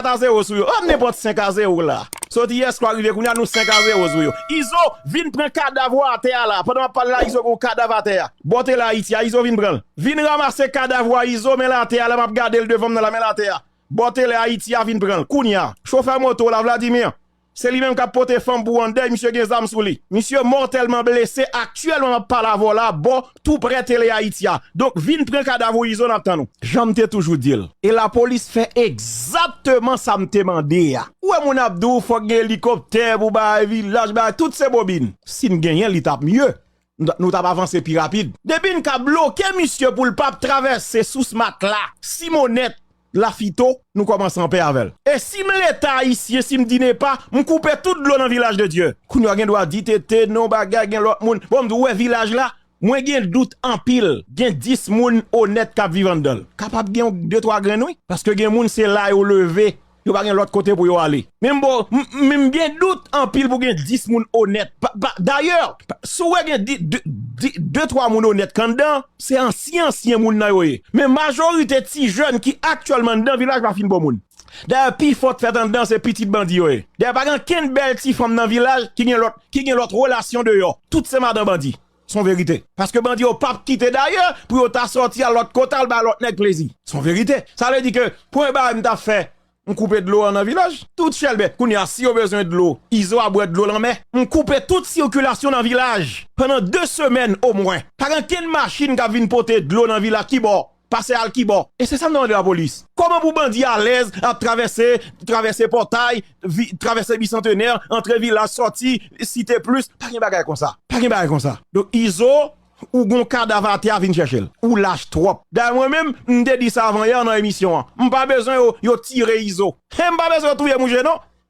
4 a 0 sou yo oh nenpòt 5 a 0 la soti yè swa rive kounya nou 5 a 0 sou yo izo vin pran kadav ou atè a la pandan map pale la izo gen yon kadav atè a bò tel ayiti a izo vin pranl vin ramase kadav ou a izo menl atè a la map gadel devanm nan la menl atè a bò tel ayiti a vin pranl kounya chofè moto la vladimir Se li menm kap pote fanm pou andèy misye gen zam sou li. Misye mòtèlman blese aktyèlman map pale avè w la bò tou prè tele Ayiti a. Donk vin pran kadav ou Izo nap tann ou. Janm te toujou di l. E lapolis fè egzakteman sa m te mande a. Ou wè moun ap di w fòk gen elikoptè pou bay vilaj bay tout se bobin. Sin genyen li tap mye. nou tap avanse pi rapid. Depi n ka bloke misye poul pap travèse sous matla, simonèt, lafito, nou kòmanse anpè avèl. E sim leta ayisyen sim di nepa m koupe tout dlo nan vilaj de Dye. Kounya w gen dwa di TT non bagay gen lòt moun bon m di w wè vilaj la mwen gen dout anpil gen 10 moun onèt kap viv anndanl kapab gen yon de twa grenn wi paske gen moun se la yo leve Yo pa gen lòt kote pou yo ale. Min bro, m gen dout anpil pou gen 10 moun onèt. Dayè, si w wè gen de twa moun onèt k anndan, se ansyen ansyen moun nan yo ye. Men majorite ti jèn ki aktyèlman anndan vilaj pa fin bon moun. Dayè pi fò k fèt anndan se pitit bandi yo ye. Dayè pa gen ankenn bèl ti fanm nan vilaj ki gen lòt relasyon deyò. Tout se madan bandi. Son verite. Paske bandi yo pap kite dayè pou yo ta sòti al lòt kote al bay lòt nèg plezi. Son verite. Sa vle di ke premye bagay m ta fè m koupe dlo an nan vilaj. Tout chèlbè. Kounye a si yo bezwen dlo, izo a bwè dlo lanmè. M koupe tout sikilasyon nan vilaj pandan 2 semèn omwen. Pa gen kenn machin k ap vin pote dlo nan vilaj kibò. Pase al kibò? E se sa m te mande lapolis. Kòman pou bandi alèz ap travèse, travèse pòtay, travèse bisantenè, antre vilaj, sòti site plis, pa gen bagay konsa. Pa gen bagay konsa. Donk Izo, ou gon kadav atè a vin chèche l. Ou lach twòp. Dayè mwen menm, m te di sa avan yè nan emisyon an. M pa bezwen yo tire Izo. He m pa bezwen yo touye mouche non.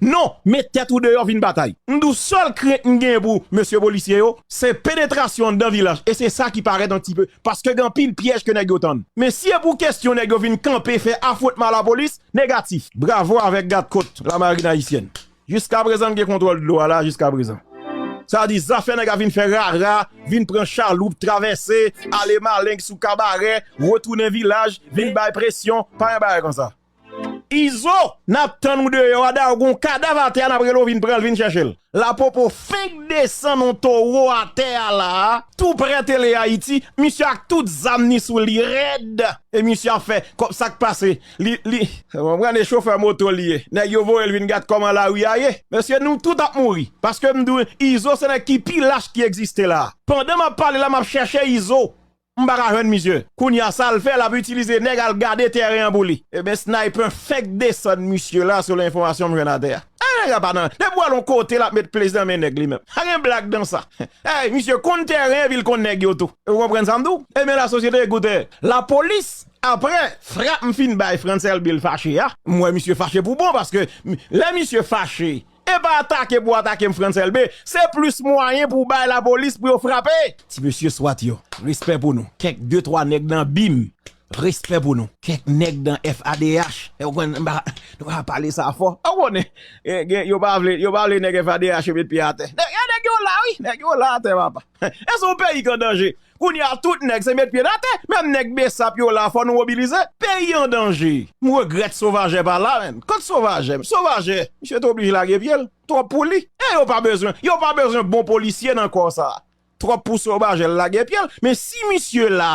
Non, met tèt ou deyò vin batay. M di w sèl krent m genyen pou mesye polisye yo, se penetrasyon anndan vilaj e se sa ki parèt an ti pe paske gen anpil pyèj ke nèg yo tann. Men si e pou kestyon nèg yo vin kanpe fè afwontman a lapolis, negatif. Bravo avèk gadkot lamarin ayisyèn. Jiskaprezan m gen kontwòl dlo a la jiskaprezan. Sa di zafè nèg a vin fè rara, vin pran chaloup, travèse, ale maleng sou kabarè, retounen vilaj, vin bay presyon, pa yon bagay konsa. Izo nap tann ou deyò a da ou gon kadav atè a nap rele w vin pran l vin chèche l la popo fenk desann on towo atè a la a tou prè tele ayiti misye ak tout zam ni sou li rèd e misye ap fè kòm sak pase li li ou konprann e chofè moto li ye nèg yo voye l vin gad kòman lari a ye mesye nou tout ap mouri paske m di w izo se nèg ki pi lach ki egziste la a pandan map pale la map chèche izo M paka jwenn misye. Kounya sal fè lap itilize nèg al gade tèren an pou li. Ebyen Sniper fenk desann misye la selon enfòmasyon m jwenn atè a. Eeh nèg la pa nan, depi wal on kote lap met plis nan men nèg li menm. Pa gen blag nan sa. Eeh misye konn tèren epi l konn nèg yo tou. Ou konprann sa m di w? Ebyen la sosyete ekoute. Lapolis aprè frap m fin bay Francel Bill fache a, m wè misye fache pou bon paske lè misye fache Epa atake pou atake M. Frantz Elbe, se plis mwayen pou w bay lapolis pou yo frape. Ti mesye swat yo, respè pou nou. Kèk de twa nèg nan bim, respè pou nou. Kèk nèg nan FADH, ou konn m pa nou pa pale sa fò. Ou konnen, gen yo pa vle, yo pa vle nèg FADH yo met pye atè. Gen nèg yo la wi, nèg yo la atè papa. Haiti son peyi k an danje. Kounye a tout nèg se met pye nan tè. Menm nèg besap yo la fò nou mobilize. Peyi an danje. M regrèt Sauvagè pa la menm. Kot Sauvagè menm? Sauvagè, misye te oblije lage pye l. Twòp pou li. E yo pa bezwen. Yo pa bezwen bon polisye nan kò sa. Twòp pou Sauvagè lage pye l. Men si misye la.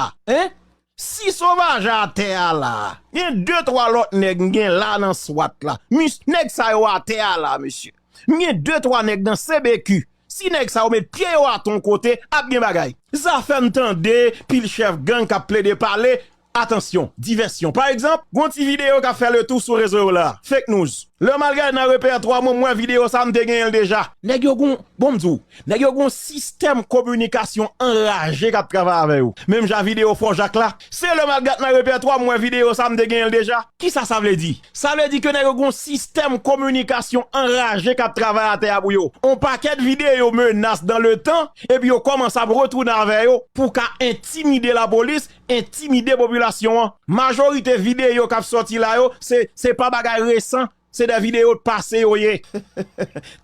Si sovaj atè a la, gen de twa lòt nèg m gen la nan swat la. Mis, nèg sa yo atè a la, mesye. M gen de twa nèg nan CBQ. Si nèg sa yo met pye yo atè yon kote, ap gen bagay. Zafè m tande pil chèf gang k ap plede pale, atansyon, divèsyon. Pa egzanp, gen yon ti videyo k ap fè letou sou rezo yo la, fake news. Lè m al gade nan repètwa mwen, m wè videyo sa a, m te genyen l deja. Nèg yo gen yon, bon m di w, Nèg yo gen yon sistèm kominikasyon anraje k ap travay avè yo. Menm jan videyo Fò Jak la, se lè m al gad nan repètwa m wè videyo sa a m te genyen l deja. Kisa sa vle di? Sa vle di ke nèg yo gen yon sistèm kominikasyon anraje k ap travay atè a pou yo. On pakèt videyo menas dan le tan epi yo kòmanse ap retounen avè yo pou ka entimide lapolis, entimide popilasyon an. Majorite videyo k ap sòti la yo se pa bagay resan Se de video t pase yo ye.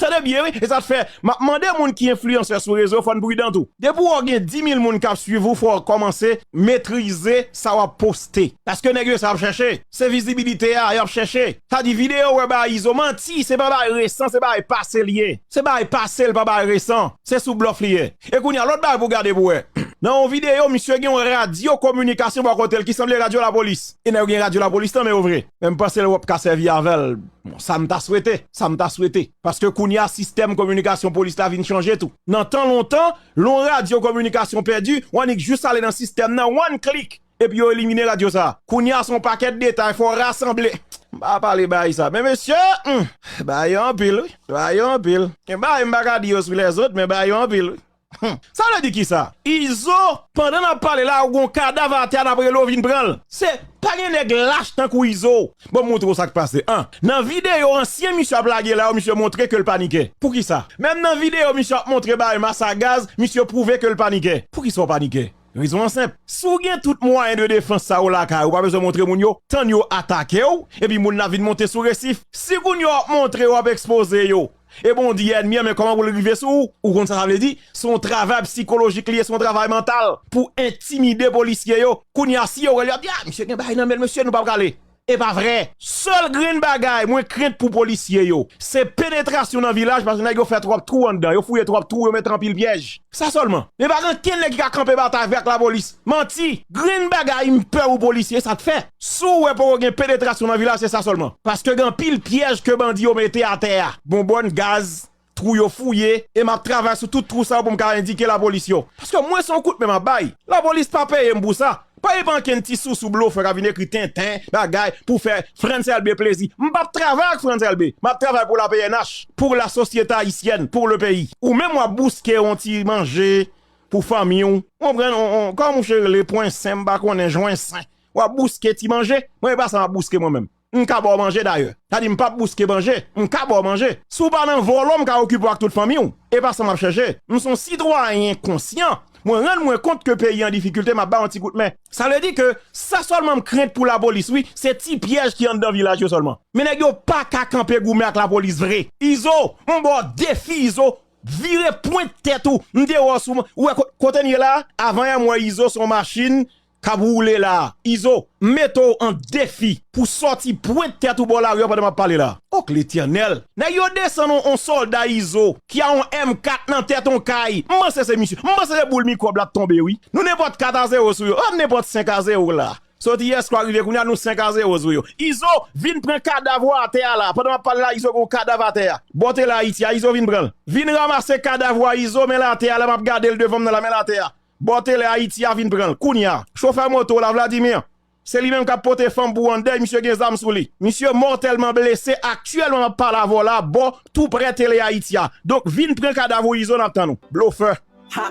Tande byen wi e sa t fè map mande moun ki enfliyansè sou rezo fòn pridan tou. Depi ou gen 10000 moun kap swiv ou fò kòmanse metrize sa wap poste paske nèg yo sa yap chèche se vizibilite a yap chèche sa di video wè bay izo manti se pa bay resan se bay pase li ye se bay pase l pa bay resan se sou blòf li ye e kounya lòt bagay pou gade pou wè nan yon video misye gen yon radyo kominikasyon bò kotel ki sanble radyo lapolis e nèg yo gen radyo lapolis nan men yo vre. Men m panse l wap ka sèvi avè l. Bon, sa m ta swete, sa m ta swete. Paske kounye a sistèm kominikasyon polis la vin chanje tou. Nan tan lontan, lè yon radyo kominikasyon pèdi, ou annik jis ale nan sistèm nan, one click, epi yo elimine radyo sa a. Kounye a se yon pakèt detay, fò w rasanble. M pa pale bagay sa. Men mesye, humm! Bagay yo anpil wi. Bagay yo anpil. Gen bagay m pa ka di yo sou lèzot, men bagay yo anpil wi. Humm sa vle di kisa izo. Pandan nap pale la ou gon kadav atè a nap rele w vin pranl. Se pa gen nèg lach tankou izo. Banm montre w sak pase 1. Nan videyo ansyen misye ap lage la yo misye montre ke l panikè. Poukisa? Menm nan videyo misye ap montre bay mas a gaz misye pwouve ke l panikè. Poukisa w panikè? Rezon an senp, si w gen tout mwayen de defans sa yo lakay ou pa bezwen montre moun yo, tann yo atake w epi moun la vin monte sou resif. Si kounye a w ap montre yo ap ekspoze yo e bon w di ènmi an men kòman pou l rive sou ou, ou konn sa sa vle di, se yon travay psikolojik li ye, se yon travay mantal pou entimide polisye yo, kounye a si yo wè l yo ap di a misye gen bagay nan men l mesye nou pa prale. e pa vre. Sèl grenn bagay mwen krent pou polisye yo, se penetrasyon nan vilaj paske nèg yo fè twòp twou anndan, yo fouye twòp twou, yo mete anpil pyèj. Sa sèlman. Men pa gen ankenn nèg ki ka kanpe batay avè ak lapolis. Manti! Grenn bagay m pè ou polisye sa t fè. Si w wè poko gen penetrasyon nan vilaj se sa sèlman. Paske gen anpil pyèj ke bandi yo mete atè a. Bonbòn, gaz, Twou yo fouye e map travay sou tout twou sa yo pou m ka endike lapolis yo. Paske mwen se yon kout men map bay. Lapolis pa peye m pou sa. Pa gen pa ankenn ti sousou blofè kap vin ekri tenten bagay pou fè Frantz Elbe plezi. M pap travay ak Frantz Elbe. Map travay pou la pnh, pou la sosyete ayisyèn, pour le pays. Ou menm wap bouske yon ti manje pou fanmi w. Ou konprann? Kòman mouche rele? Pwensen? M pa konnen. Jwensen? Wap bouske ti manje? Mwen e pa sa map bouske mwen menm. m ka ba w manje dayè. Sa di m pap bouske manje, m ka ba w manje. Si w pa nan vòlò m ka okipe w ak tout fanmi w. E pa sa m ap chèche. M se yon sitwayen konsyan. Mwen rann mwen kont ke peyi an difikilte m ap ba w yon ti kout men. Sa vle di ke sa sèlman m krent pou lapolis wi, se ti pyèj ki anndan vilaj yo sèlman. Men nèg yo pa ka kanpe goumen ak lapolis vre. Izo, m ba w defi Izo, vire pwent tèt ou, m deyò sou mwen, ou wè kote n ye la a? Avan yè m wè Izo se yon machin kap woule la izo m mete w an defi pou sòti pwent tèt ou bò lari an pandan map pale la ok letènèl nèg yo desann on on sòlda izo ki a on M 4 nan tèt on kay m panse se misye m panse se boul mikwòb la t tonbe wi nou nenpòt 4 a 0 sou yo oh nenpòt 5 a 0 la soti yè swa rive kounya nou 5 a 0 sou yo izo vin pran kadav ou atè a la pandan map pale la izo gon kadav atè a bò tela ayiti a izo vin pran l vin ramase kadav ou a izo men l atè a la map gade l devan m nan la men l atè a Bò tele Haiti a vin pranl kounya. Chofè moto w la Vladimir. Se li menm kap pote fanm pou an dèy misye gen zam sou li. Misye mòtèlman blese aktyèlman map pale avè w la bò tou prè tele Haiti a. Donk vin pran kadav ou izo nap tann ou. Blofè. Ha!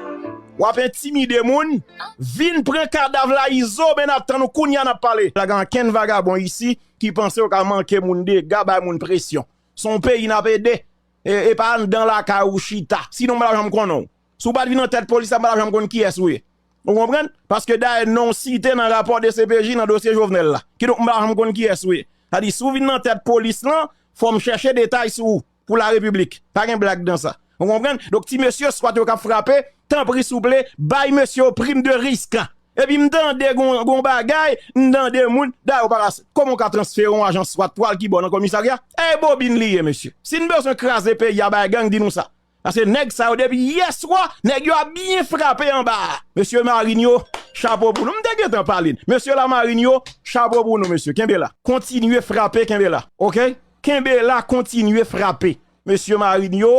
Wap entimide moun. Vin pran kadav la izo men nap tann ou kounya nap pale. Pa gen ankenn vagabon isi ki panse yo ka manke moun dega bay moun presyon. Son peyi nap ede. Epa anndan lakay ou chita. Sinon m pa tap janm konnen w. Si w pa t vin nan tèt polis la, m pa t ap janm konn kiyès ou ye. Ou konprann? Paske dayè non w site nan rapò dcpj nan dosye Jovenel la. Kidonk m pa t ap janm konn kiyès ou ye. Sa di si w vin nan tèt polis lan, fò m chèche detay sou ou pou larepiblik. Pa gen blag nan sa. Ou konprann? Donk ti mesye swat yo k ap frape, tanpri souple, bay mesye yo prim de risk. Epi m tande gon bagay, m tande moun, dayè ou pa ka, kòman ou ka transfere yon ajan swat pou al kibò nan komisarya? E bobin li ye mesye. Si n bezwen kraze peyi a bay gang, di nou sa. Paske nèg sa yo depi yè swa nèg yo ap byen frape anba a. Mesye marinn yo chapo pou nou. M te gentan pale n. Mesye la marinn yo chapo pou nou mesye. Kenbe la. Kontinye frape kenbe la. Ok kenbe la kontinye frape mesye marinn yo.